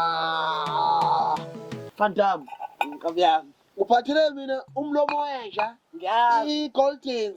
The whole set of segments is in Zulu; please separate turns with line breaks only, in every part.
Ah, Phantam, nkabi yami. Uphathele mina umlomo wenja, Ngiyazi. i-goldens,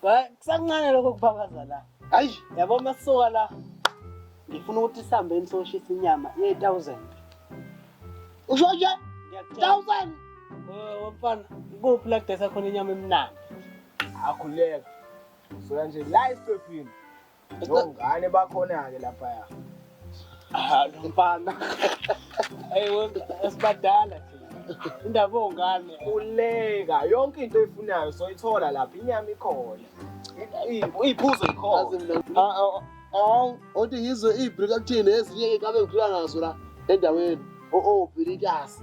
kusancane lokho kuphakaza la hayi yabo masuka la ngifuna ukuthi sihambe nisoshisa inyama ye-1000 usho nje 1000 wamfana kuphi la kudesa khona inyama emnandi akhuleka
soya nje la esiqephini Ngane
bakhona-ke laphaya. Ah, lo mfana. Hey, esibadala nje. Indaba
ongane. Uleka, yonke into oyifunayo soyithola lapha, inyama ikhona. Iyiphuzo ikhona. Ah, ah, ah,
othi ngizwe ibri kakuthini ezinye-ke ngabe ngiphila nazo la endaweni. O-o, bhilikasi.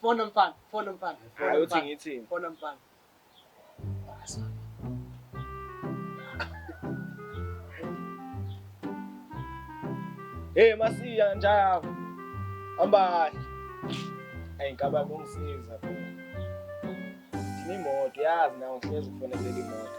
Fona
mfana, fona mfana. Hayi uthi
ngithini? Fona
mfana.
Hey masiya njaya. Hamba. Ayi ngaba kungisiza phela. Ngimoto yazi nawo ngeke ufaneleke imoto.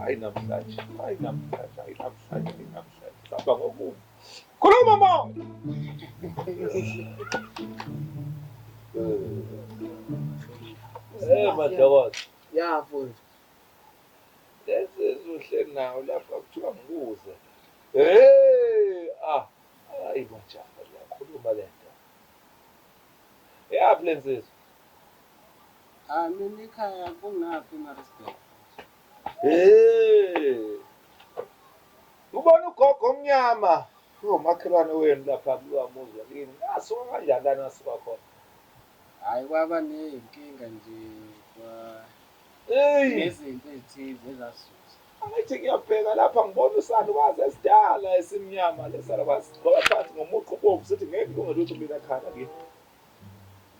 hayi namhlanje hayi namhlanje hayi namhlanje hayi namhlanje sihamba ngokubi
khuluma moya Eh madokodo ya mfundisi
lensizwa
uhleli nawo lapha kuthiwa ngikuze hey ah hayi majaha liyakhuluma le nto yaphi le nsizwa Ah mina
ikhaya kungaphi eMaritzburg? Eh.
Ubona ugogo omnyama ungomakhelwane wenu lapha kulowa muzi wakini. Asuka kanjani lana asuka khona? Hhayi
kwaba ney'nkinga nje kwa Eyi, nezinto ezithize ezasusa. angithi ngiyabheka
lapha ngibona usalukazi esidala esimnyama lesalukazi sigqoka phansi ngomuqo ubovu sithi ngeke kulunge lutho mina khanda kimi.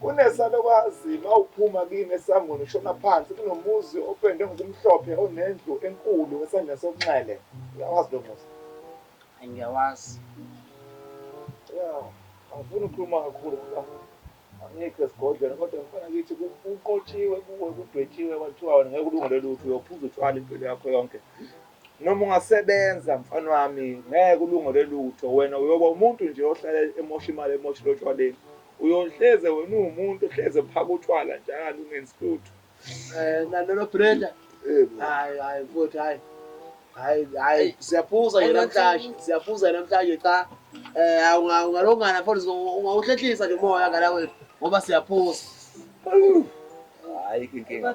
Kunesalukazi ma uphuma kini esangweni ushona phansi kunomuzi opendwe ngokumhlophe onendlu enkulu esandleni sokunxele uyawazi lo muzi Hayi ngiyawazi. Yeah, angifuni ukukhuluma kakhulu ngoba angikho esigodlweni kodwa mfana kithi ku- kunqotshiwe kuwe kudwetshiwe kwathiwa wena ngeke ulungele lutho uyophuza utshwala impilo yakho yonke Noma ungasebenza mfana wami ngeke ulungele lutho wena uyoba umuntu nje ohlale emosha imali emoshile otshwaleni uyohleze wena uwumuntu ohleze ephaka utshwala njalo ungenzi lutho eh nalelo
Brenda hayi hayi futhi hayi hayi hayi siyaphuza nje namhlanje siyaphuza namhlanje cha eh awungalongana futhi ungawuhlehlisa nje umoya ngala wethu ngoba siyaphuza
hayi inkinga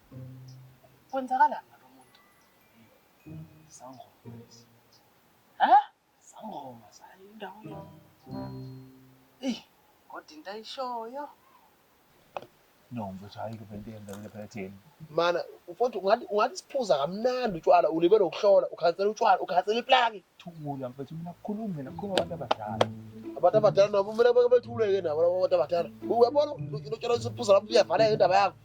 Kwenzakalani ngalo muntu? Sangoma lezi. Ha? Sangoma zayo indawo yethu. Eyi, kodwa
into ayishoyo. No, mfethu hayi ke bento yenzakile phela thina. Mana,
mfowethu ungathi ungathi siphuza kamnandi utshwala, ulibele ukuhlola, ukhansela utshwala, ukhansela iplaki. Thula mfethu mina
kukhulumi mina kukhuluma abantu abadala. Abantu abadala
nabo kumele beke bethuleke nabo labo bantu abadala. Uyabona utshwala usiphuza lapho uyavaleka indaba yakho.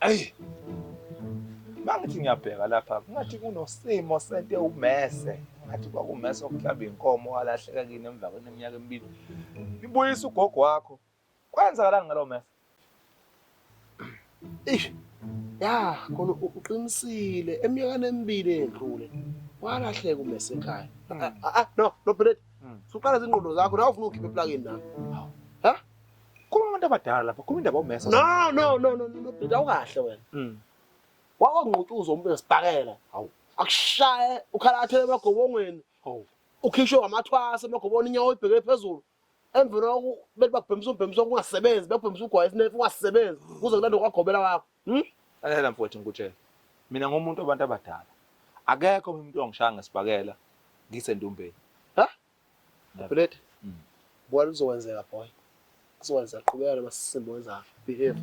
Ayi. Mangithi ngiyabheka lapha kungathi kunosimo sento ewumese. Ngathi kwakumese okuhlamba inkomo walahleka kini emva kweneminyaka emibili. Ibuyisa ugogo wakho. Kwenzakalani ngalo mese?
Eish. Ya, khona uqinisile eminyakeni emibili edlule. Walahleka umese ekhaya. Ah, ah, ah no, no Brett. Hmm. Suqala izinqondo zakho, nawu ufuna ukhiphe eplakeni nami.
Khuluma abantu abadala lapha, khuluma indaba omesa. No no no no no
bhuti awukahle wena. Mm. Wawangqutuza umuntu esibhakela. Hawu. Akushaye ukhala athele emagobongweni. Hawu. Ukhishwe wamathwasa emagobongweni inyawo ibheke phezulu. Emveni koku bethi bakubhemisa umbhemisa kungasebenzi, bakubhemisa ugwayi isinefu ungasebenzi. Kuze kulande kwagobela wakho. Hm? Lalela mfowethu
ngikutshela. Mina ngomuntu wabantu abadala. Akekho umuntu ongishaya ngesibhakela ngisendumbeni. Ha?
Bullet. Mm. Bona uzokwenzeka boy. Kuzokwenzeka qhubeka noma sisimbo wenza behave.